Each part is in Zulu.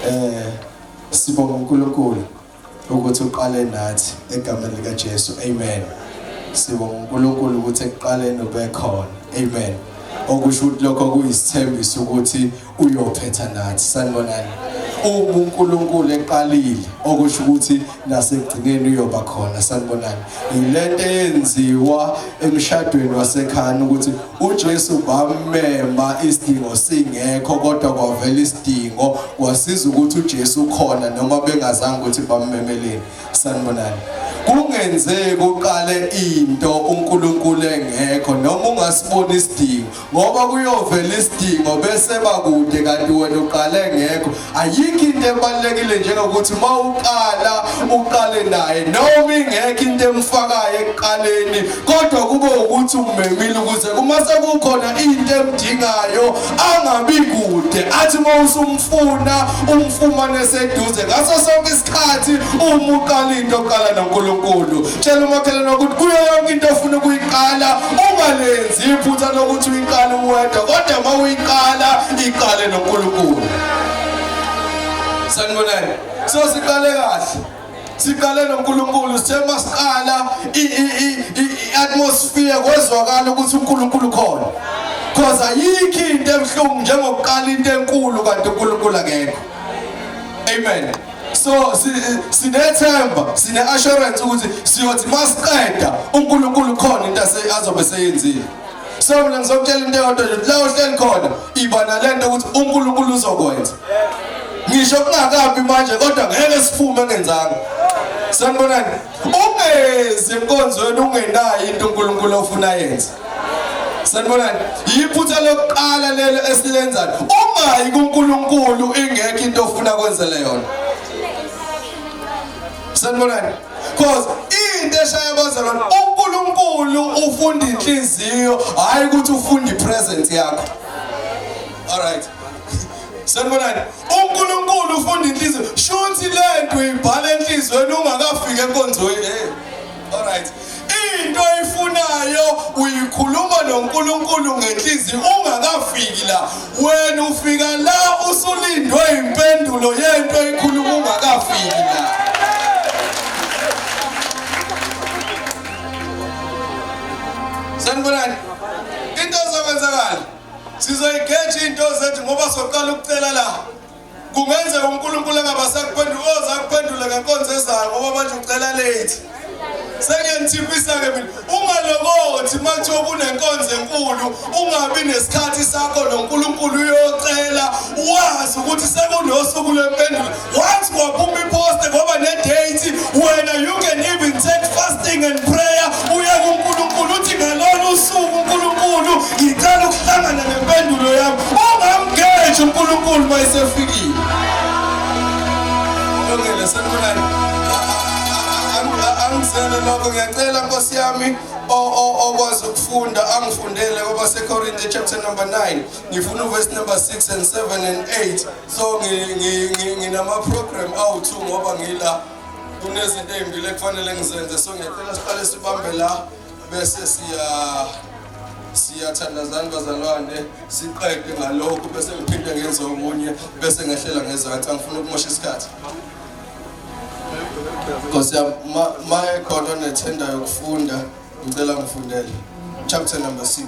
eh sibonga uNkulunkulu ukuthi uqale nathi egameni lika Jesu amen sibonga uNkulunkulu ukuthi ekuqaleni ubekhona amen okusho ukuthi lokho kuyisithembiso ukuthi uyophetha nathi sanibonani uma uNkulunkulu eqalile okusho ukuthi nasekugcineni uyoba khona sanibonani yilento eyenziwa emshadweni wasekhaya ukuthi uJesu bamemba isidingo singekho kodwa kwavela isidingo wasiza ukuthi uJesu khona noma bengazange ukuthi bammemeleni sanibonani kungenzeki uqale into uNkulunkulu engekho noma ungasibona isidingo ngoba kuyovela isidingo bese bakude kanti wena uqale ngekho ayikho into ebalulekile njengokuthi uma uqala uqale naye noma ingekho into emfakayo ekuqaleni kodwa kube ukuthi umemile ukuze uma sekukhona into emdingayo angabi kude athi uma usumfuna umfumane seduze ngaso sonke isikhathi uma uqala into oqala nonkulunkulu tshela umakhelwane ukuthi kuyo yonke into ofuna ukuyiqala ungalenzi iphutha lokuthi uyiqale uwedwa kodwa uma uyiqala iqale nonkulunkulu sanibonani so siqale kahle siqale noNkulunkulu sithe masiqala i-atmosphere kwezwakala ukuthi uNkulunkulu khona because ayikho into ebuhlungu njengokuqala into enkulu kanti uNkulunkulu akekho amen so sinethemba sine-assurance ukuthi siyothi masiqeda unkulunkulu khona into azobe seyenzile so mina ngizokutshela into eyodwa nje la uhleli khona iba nale nto ukuthi unkulunkulu uzokwenza ngisho kungakabi manje kodwa ngeke siphume engenzanga sanibonani ungezi enkonzweni ungenayo into uNkulunkulu ofuna yenze sanibonani yiphutha lokuqala lelo esilenzayo ungayi kuNkulunkulu ingekho into ofuna kwenzele yona sanibonani because into eshaya bazalwane uNkulunkulu ufunda inhliziyo hayi ukuthi ufunda ipresence yakho all right Sanibonani. UNkulunkulu ufunda inhliziyo. Shuthi lento uyibhala enhlizweni ungakafiki enkonzweni. Hey. All right. Into oyifunayo uyikhuluma noNkulunkulu ngenhliziyo ungakafiki la. Wena ufika la usulindwe impendulo yento oyikhuluma ungakafiki la. Sanibonani. Into ozokwenzakala sizoyigeja iy'nto zethu ngoba soqala ukucela la kungenzeka unkulunkulu angabasakuphendula oza kuphendula ngenkonzo ezayo ngoba manje ucela late sengenithiphisa-ke mina ungalokothi uma kuthiwa kunenkonzo enkulu ungabi nesikhathi sakho nonkulunkulu uyocela wazi ukuthi sekunosuku lwempendulo Once waphuma ipost ngoba ne date wena you can even take fasting and prayer uye kuNkulunkulu uthi ngalolu usuku uNkulunkulu ngicela ukuhlangana nempendulo yami ungamgeje uNkulunkulu mayisefikile Longele sekulani Angizele lokho ngiyacela Nkosi yami okwazi ukufunda angifundele kwabasekorinte chapter number 9 ngifuna uverse number 6 and 7 and 8 so nginama-program awu-two ngoba ngila kunezinto ey'mbili ekufanele ngizenze so ngiyacela siqale sibambe la bese siya siyathandazani bazalwane siqede ngalokhu bese ngiphinde ngenze omunye bese ngehlela ngezansi angifuna ukumosha isikhathi nkosi yam ma ekhona onethenda yokufunda ngicela ngifundele chapter number six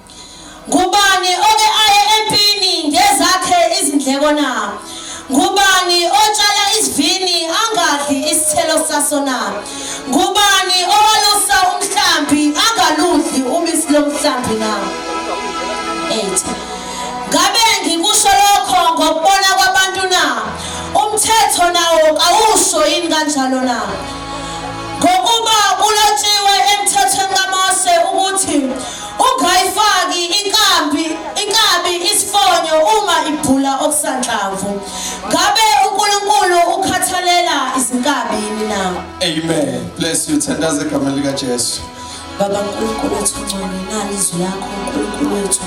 Ngubani oke aye empini ngezakhe izindleko na? Ngubani otshala isivini angadli isithelo saso na? Ngubani owalusa umhlambi angaludli ubisi lomhlambi na? 8. Ngabe ngikusho lokho ngokubona kwabantu na? Umthetho nawo kawusho yini kanjalo na? Ngokuba kulotshiwe emthethweni kaMose ukuthi Ungayifaki inkambi inkabi isifonyo uma ibhula okusanhlamvu. Ngabe uNkulunkulu ukhathalela izinkabi yini na? Amen. Bless you. Thandaza igama lika Jesu. Baba uNkulunkulu wethu ngcwele nani izwi lakho uNkulunkulu wethu.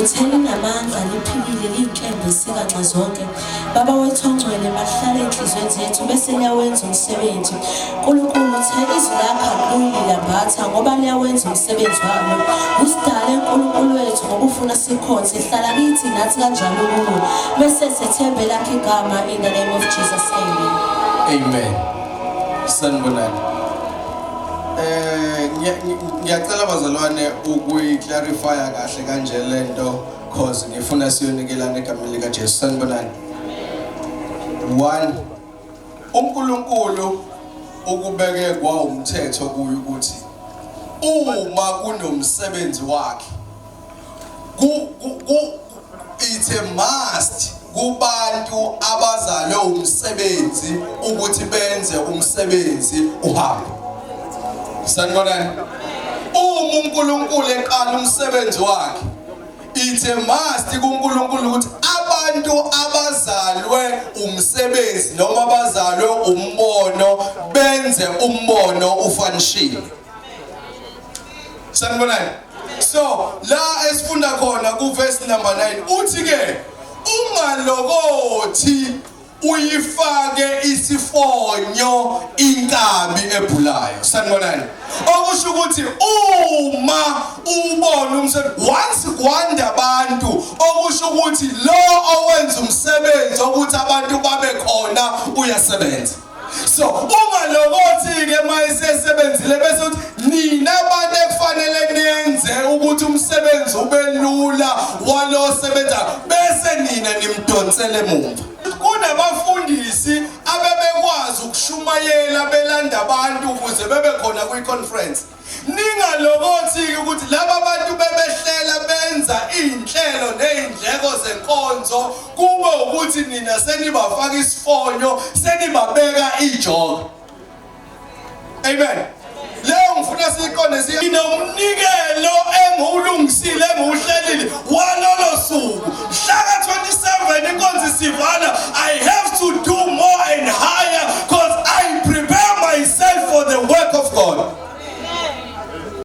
Utheni namandla liphilile linkembe sika nxa zonke. Baba wethu ongcwele mahlale enhliziyweni zethu bese liyawenza umsebenzi. Nkulunkulu uthe izwi lakho akulilambatha ngoba liyawenza umsebenzi walo. Usidale uNkulunkulu wethu ngokufuna sikhonze hlala kithi nathi kanjalo kuwe. Bese sethembe lakhe igama in the name of Jesus. Amen. Amen. Sanibonani. Eh ngiyacela bazalwane ukuyi clarify kahle kanje lento cause ngifuna siyonikelana egameni likaJesu sanibonani one uNkulunkulu ukubeke kwawumthetho kuyo ukuthi uma kunomsebenzi wakhe it's a must kubantu abazalwe umsebenzi ukuthi benze umsebenzi uhambe sanibonani uma uNkulunkulu eqala umsebenzi wakhe It's a must kuNkulunkulu ukuthi abantu abazalwe umsebenzi noma abazalwe umbono benze umbono ufanishile. Sanibonani? So la esifunda khona ku verse number 9 uthi ke ungalokothi uyifake isifonyo inkabi ebhulayo sanibonani okusho ukuthi uma ubona umsebenzi once kwanda abantu okusho ukuthi lo owenza umsebenzi ukuthi abantu babe khona uyasebenza so ungalokothi-ke uma esesebenzile bese uthi nina abantu ekufanele nenze ukuthi umsebenzi ube lula walo osebenzayo bese nina nimdonsele emuva kunabafundisi abebekwazi ukushumayela belanda abantu ukuze bebe khona kwi-conference ningalokothi-ke ukuthi laba bantu bebehlela benza iy'nhlelo ney'ndleko zenkonzo kube ukuthi nina senibafaka isifonyo senibabeka ijoka Amen. Leo ngifuna siqonde sinomnikelo engiwulungisile engiwuhlelile walolo suku mhlaka 27 inkonzo isivala I have to do more and higher because I prepare myself for the work of God.